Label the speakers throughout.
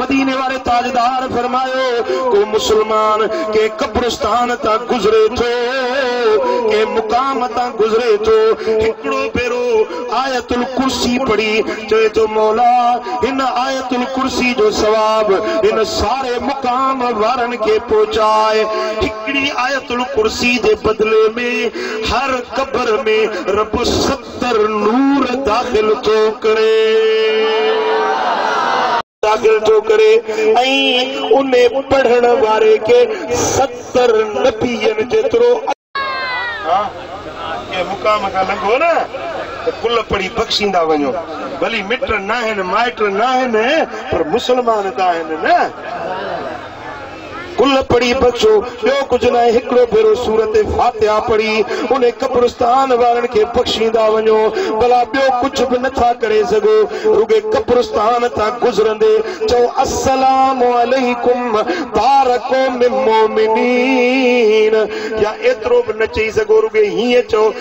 Speaker 1: مديني واري تاجدار فرمايو، ڪو مسلمان ڪنهن قبرستان تان گذري ٿو، ڪنهن مقام تان گذري ٿو، هڪڙو ڀيرو آيت الڪرسي پڙهي چوي ٿو، مولا! هن آيت الڪرسي جو ثواب هن ساري مقام وارن کي پهچاء. هڪڙي آيت الڪرسي جي بدلي ۾ هر قبر ۾ رب ست ستر نور داخل ٿو ڪري داخل ٿو ڪري ۽ ان پڙهڻ واري کي ستر نبين جيترو ها ڪنهن مقام کان لنگهو نه ته ڪل پڙهي بخشيندا وڃو ڀلي مٽ ناهن مائٽ ناهن پر مسلمان ته آهن نه. کل پڙهي بخشو، ٻيو ڪجهه ناهي هڪڙو ڀيرو سورت فاتحه پڙهي ان قبرستان وارن کي بخشيندا وڃو، ڀلا ٻيو ڪجهه به نه ٿا ڪري سگهو، رڳي قبرستان تان گذرندي چئو السلام عليڪم دار قوم مؤمنين يا ايترو به نه چئي سگهو رڳي هيئن چئو.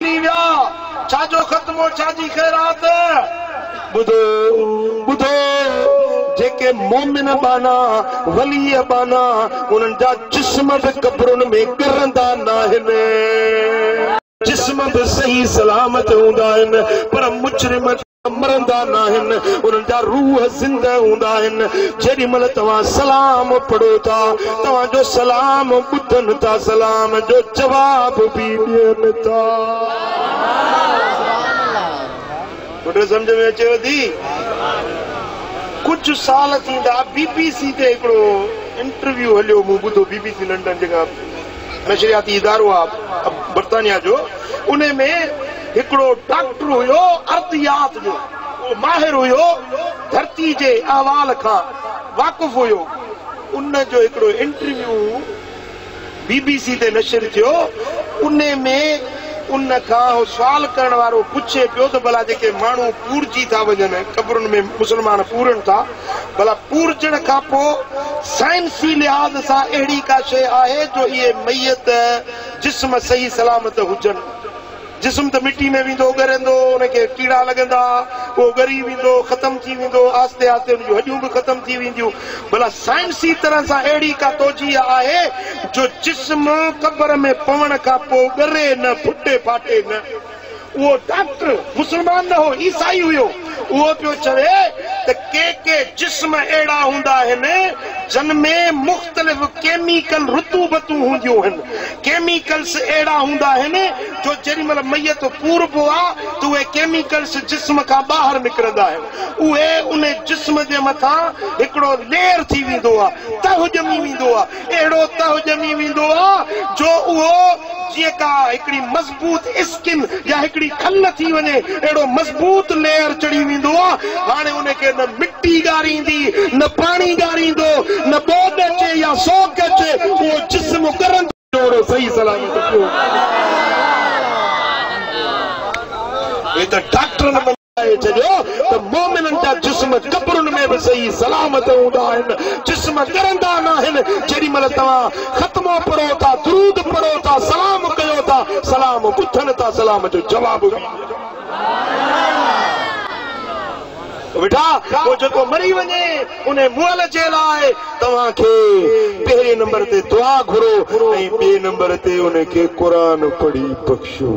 Speaker 1: ڪني ويا ڇا جو ختمو ڇا جي خيرات. ٻڌو ٻڌو جيڪي مومن ٻانها ولي ٻانها انهن جا جسم به قبرن ۾ ڳرندا ناهن. جسم به صحيح سلامت هوندا آهن پر مجرم مرندا ناهن انهن جا روح زنده هوندا آهن جيڏي مهل توهان سلام پڙهو ٿا توهان جو سلام ٻڌن ٿا سلام جو جواب به ڏين ٿا پٽ سمجھ ۾ اچيو ٿي ڪجهه سال ٿيندا بي بي سي تي هڪڙو انٽرويو هليو مون ٻڌو بي بي سي لنڊن جيڪا نشرياتي ادارو آ برطانيا جو انهي ۾ هڪڙو ڊاڪٽر هيو ارضيات جو اهو ماهر هيو ڌرتي جي احوال کان واقف هيو ان جو هڪڙو انٽرويو بي بي سي تي نشر ٿيو انهي ۾ ان کان اهو سوال ڪرڻ وارو پڇي پيو ته ڀلا جيڪي ماڻهو پورجي ٿا وڃن قبرن ۾ مسلمان پورن ٿا ڀلا پورجڻ کان پوء سائنسي لحاظ سان اهڙي ڪا شيء آهي جو اهي ميت جسم صحيح سلامت هجن؟ جسم ته مٽي ۾ ويندو ڳرندو، ان کي ڪيڙا لڳندا، اهو ڳري ويندو، ختم ٿي ويندو، آهستي آهستي ان جون هڏيون به ختم ٿي وينديون، ڀلا سائنسي طرح سان اهڙي ڪا توجيه آهي جو جسم قبر ۾ پوڻ کان پوء ڳري نه، ڦٽي ڦاٽي نه؟ اهو ڊاڪٽر مسلمان نه هو، عيسائي هيو. اهو پيو چوي ته ڪي ڪي جسم اهڙا هوندا آهن جن ۾ مختلف ڪيميڪل رطوبتون هونديون آهن. ڪيميڪلز اهڙا هوندا آهن جو جيڏي مهل ميت پوربو آهي ته اهي ڪيميڪلز جسم کان ٻاهر نڪرندا آهن. اهي ان جسم جي مٿان هڪڙو ليئر ٿي ويندو آهي، تهه ڄمي ويندو آهي. اهڙو تهه ڄمي ويندو آهي جو اهو جيئن ڪا هڪڙي. مضبوط اسڪن يا هڪڙي کل ٿي وڃي اهڙو مضبوط ليئر چڙهي ويندو آ هاڻي ان کي نه مٽي ڳاريندي نه پاڻي ڳاريندو نه ٻوڏ اچي يا سوڪ اچي اهو جسم ڳرندو جوڙو صحيح سلامت پيو هي ته ڊاڪٽرن ٻڌائي ڇڏيو ته مؤمنن جا جسم قبرن ۾ به صحيح سلامت هوندا آهن، جسم ڳرندا ناهن، جيڏي مهل توهان ختمو پڙهو ٿا، درود پڙهو ٿا، سلام ڪيو ٿا، سلام ٻڌن ٿا، سلام جو جواب به ڏيو ٿا. مٺا! پوء جيڪو مري وڃي، انهي مئل جي لاء توهان کي پهرين نمبر تي دعا گهرو ۽ ٻئي نمبر تي ان کي قرآن پڙهي بخشو.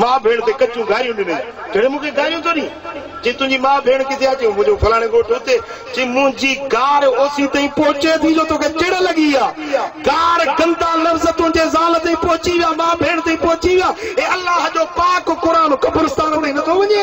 Speaker 1: ماء ڀيڻ تي ڪچيون گاريون ڏنائين. ڪهڙي مون کي گاريون ٿو ڏئين؟ چي تنهنجي ماء ڀيڻ ڪٿي آ؟ چيون منهنجو فلاڻي ڳوٺ اتي. چي منهنجي گار اوسين تائين پهچي ٿي جو توکي چڙ لڳي آ. گار گندا لفظ تنهنجي زال تائين پهچي ويا، ماء ڀيڻ تائين پهچي ويا. اي الله جو پاڪ قرآن قبرستان تائين نٿو وڃي؟